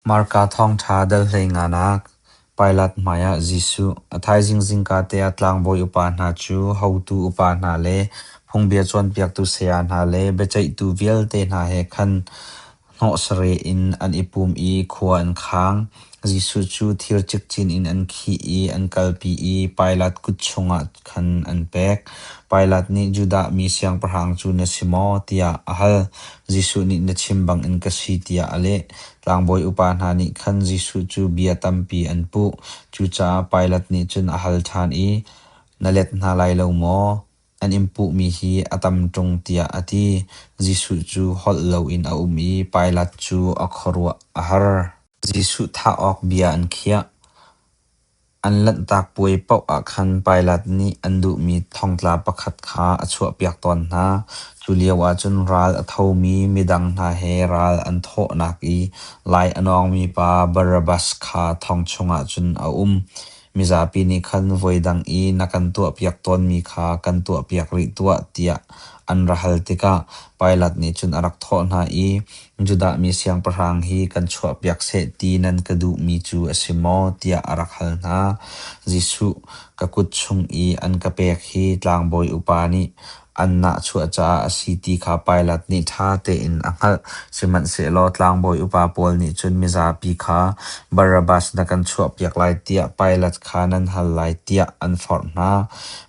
Marka thawngṭha dal hleingan ah Pilat hmaiah Jesuh a thaizing zingka te ah tlangbawi upa hna cu hotu upa hna le phungbia cawnpiaktu saya hna le biaceihtu vialte hna he khan hnawhsareh in an i pum i khua an khang. Jesuh cu thir cikcin in an khih i an kalpi i Pilat kut chungah khan an pek. Pilat nih, Judah mi siangpahrang cu na si maw? tiah a hal. Jesuh nih na chim bangin ka si tiah a leh. Tlangbawi upa hna nih khan Jesuh cu bia tampi an puh. Cucaah Pilat nih cun a hal ṭhan i, Na let hna lai lo maw? An in puhmi hi a tam ṭung tiah a ti. Jesuh cu holh loin a um i Pilat cu a khuaruah a har. Jesuh thah awk bia an khiah. An lanhtak puai paoh ah khan Pilat nih an duhmi thongtla pakhat kha a chuahpiak tawn hna. Culio ahcun ral a thomi midang hna he ral an thawhnak i lai a nawngmi pa Barabbas kha thong chungah cun a um. Mizapi nih khan voidang i na kan tuahpiak tawnmi kha kan tuahpiak rih tuah tiah an ra hal tikah Pilat nih cun a rak thawh hna i, Judah mi siangpahrang hi kan chuahpiak seh ti nan ka duhmi cu a si maw? tiah a rak hal hna. Jesuh ka kut chung i an ka pek hi tlangbawi upa nih an nahchuah caah a si ti kha Pilat nih ṭha tein a hngalh. Sihmanhsehlaw tlangbawi upa pawl nih cun mizapi kha, Barabbas na kan chuahpiak lai tiah Pilat kha nan hal lai tiah an forh hna.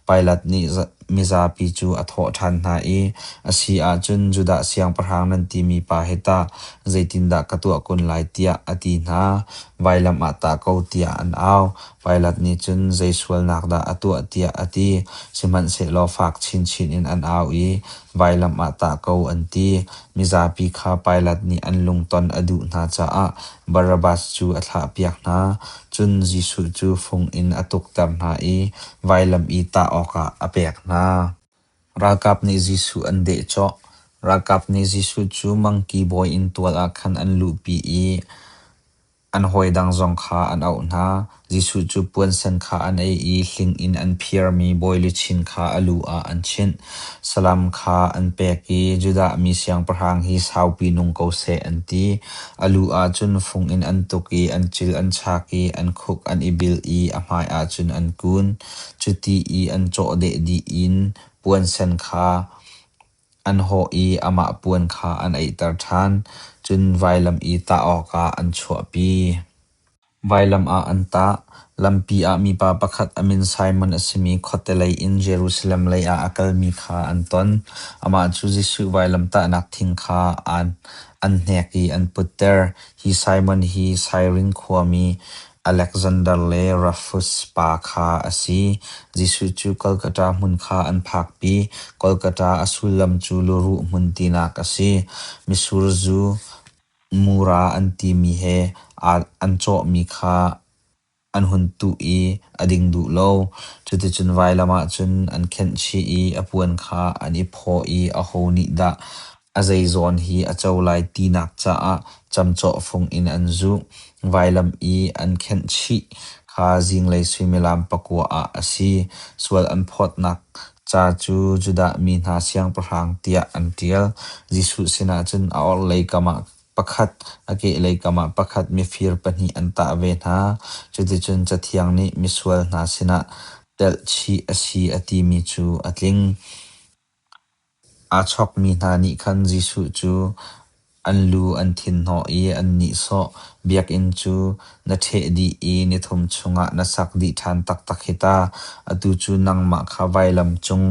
Pilat nih mizapi cu a thawh ṭhan hna i, A si ahcun Judah siangpahrang nan timi pa he tah zeitindah ka tuah kun lai tiah a ti hna. Vailam ah tah ko tiah an au. Pailat nih cun zei sualnak dah a tuah tiah a ti. Sihmanhsehlaw fak chinchin in an au i vailam ah tah ko an ti. Mizapi kha Pailat nih an lungton a duh hna caah Barabbas cu a thlahpiak hna, cun Jesuh cu fung in a tukter hna i vailam i tah awkah a pek hna. Ralkap nih Jesuh an deh cawh. Ralkap nih Jesuh cu mangki bawi inn tual ah khan an luhpi i an hawi dang zong kha an auh hna. Jesuh cu puansen kha an ei i hling in an phiarmi bawi luchin kha a lu ah an chinh. Salam kha an pek i Judah mi siangpahrang hi saupi nung ko seh an ti. A lu ah cun fung in an tuk i an cil an chak i an khuk an i bil i a hmaiah cun an kun. Cuti i an cawhdeh dih in puansen kha an hawh i amah puan kha an eihter ṭhan, cun vailam i tah awkah an chuahpi. Vailam ah an tah, lampi ah mipa pakhat a min Simon a simi khuatelei in Jerusalem lei ah a kalmi kha an ton. Amah cu Jesuh vailamtahnak thing kha an hnek i an putter. Hi Simon hi Sairin khuami Aleksander le Rufus pa kha a si. Jesuh cu Golgata hmun kha an phakpi. Golgata a sullam cu Luruh Hmun tinak a si. Misur zu, Mura an timi he an cawhmi kha an hun tuh i a ding duh lo. Cuticun vailam ah cun an khenh chih i a puan kha an i phawh i aho nih dah a zeizawn hi a co lai tinak caah camcawhfung in an zuh. Vailam i an khenh chih kha zinglei suimilam pakua ah a si. Sual an phawtnak Ca cu Judah mi hna siangpahrang tiah an ṭial. Jesuh sinah cun a orhlei kamah pakhat, a kehlei kamah pakhat mifir pahnih an tah ve hna. Cuticun Cathiang nih misual hna sinah telhchih a si a timi cu a tling. Aa chawkmi hna nih khan Jesuh cu An lu an thinhnawh i an nihsawh. Biakinn cu na ṭheh dih i nithum chungah na sak dih ṭhan taktak hi ta. Atu cu nangmah kha vailam cung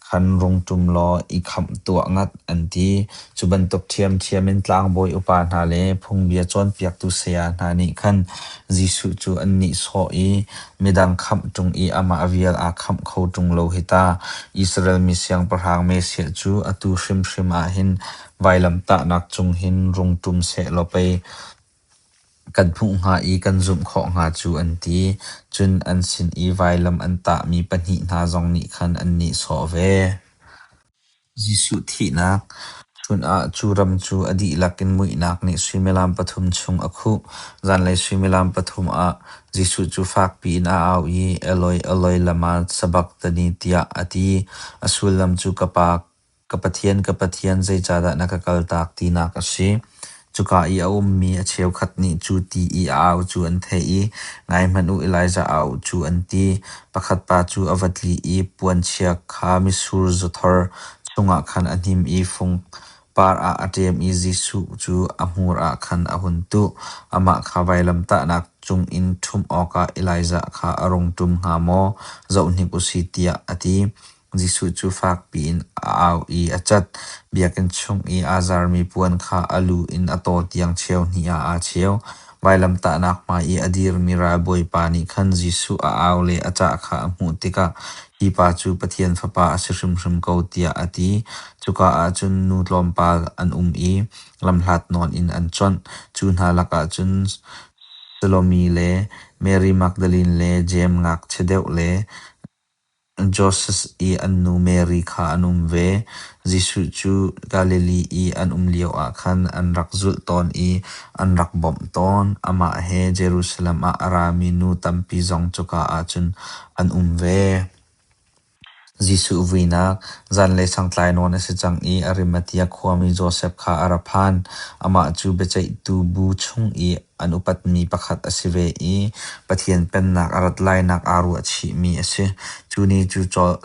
khan rung ṭum law i khamh tuah ngat, an ti. Cu bantuk ṭhiamṭhiam in tlangbawi upa hna le phungbia cawnpiaktu saya hna nih khan Jesuh cu an nihsawh i, Midang khamh ṭung i amah vial aa khamh kho ṭung lo hi ta. Israel mi siangpahrang Mesiah cu atu hrimhrim ah hin Vailamtahnak cung hin rung ṭum sehlaw pei kan hmuh hnga i kan zumh khawh hnga cu an ti. Cun an sin i vailam an tahmi pahnih hna zong nih khan an nihsawh ve. Jesuh thihnak Chun ah cu ram cu a dihlak in muihnak nih suimilam pathum chung a khuh. Zanlei suimilam pathum ah Jesuh cu fakpi in a au i, Eloi, Eloi lama sabakthani? tiah a ti. A sullam cu, Ka Pa, Ka Pathian, ka Pathian, zeicahdah na ka kaltak tinak a si. Cuka i a ummi a cheukhat nih cu ti i a au cu an theih i ngaihmanh u Elijah a auh cu an ti. Pakhat pa cu a va tli i puanchia kha misur zuthor chungah khan a hnim i fung par ah a ṭem i Jesuh cu a hmur ah khan a hun tuh. Amah kha vailamtahnak cungin ṭhumh awkah Elijah kha a rung ṭum hnga maw? Zohhnik u sih tiah a ti. Jesuh cu fakpi in a au i a cat. Biakinn chung i aa zarmi puan kha a lu in a taw tiang cheu hnih ah aa cheu. Vailamtahnak hmai i a dirmi ralbawipa nih khan Jesuh a au le a cah kha a hmuh tikah, hi pa cu Pathian Fapa a si hrimhrim ko tiah a ti. Cuka ah cun nu tlawmpal an um i lamhlat nawn in an chawnh. Cu hna lakah cun Salomi le Mary Magdalene le Jeim ngakchia deuh le Joses i an nu Mary kha an um ve. Jesuh cu Galilee i an um lioah khan an rak zulh tawn i an rak bawmh tawn. Amah he Jerusalem ah a rami nu tampi zong cuka ah cun an um ve. Jesuh vuinak zanlei sangtlai nawn a si cang i Arimathea khuami Josef kha a ra phan. Amah cu biaceihtu bu chung i An upatmi pakhat a si ve i Pathian Pennak a rat lainak aa ruah chihmi a si. Cu ni cu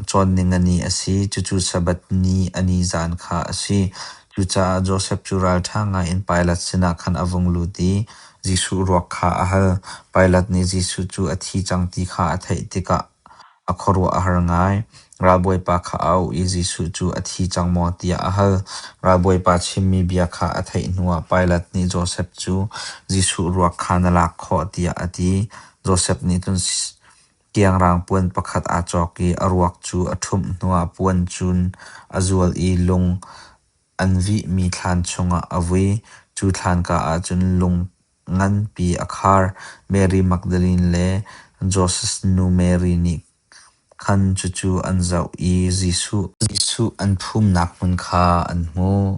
Cawnning a ni a si. Cucu Sabbath ni a ni zaan kha a si. Cucaah Josef cu ralṭha ngaiin Pilat sinah khan a vung lut i Jesuh ruak kha a hal. Pilat nih Jesuh cu a thi cang ti kha a theih tikah A khuaruah a har ngai. Ralbawipa kha a auh i Jesuh cu a thi cang maw tiah a hal. Ralbawipa chimmi bia kha a theih hnuah Pilat nih Josef cu Jesuh ruak kha na lak khawh tiah a ti. Josef nih cun kiangrang puan pakhat aa cawk i a ruak cu a ṭhumh hnuah puan cun a zual i lung an vihmi thlan chungah a vui. Cu thlanka ahcun lung nganpi a khar. Mary Magdalene le Joses nu Mary nih khan cucu an zoh i Jesuh an phumnak hmun kha an hmuh.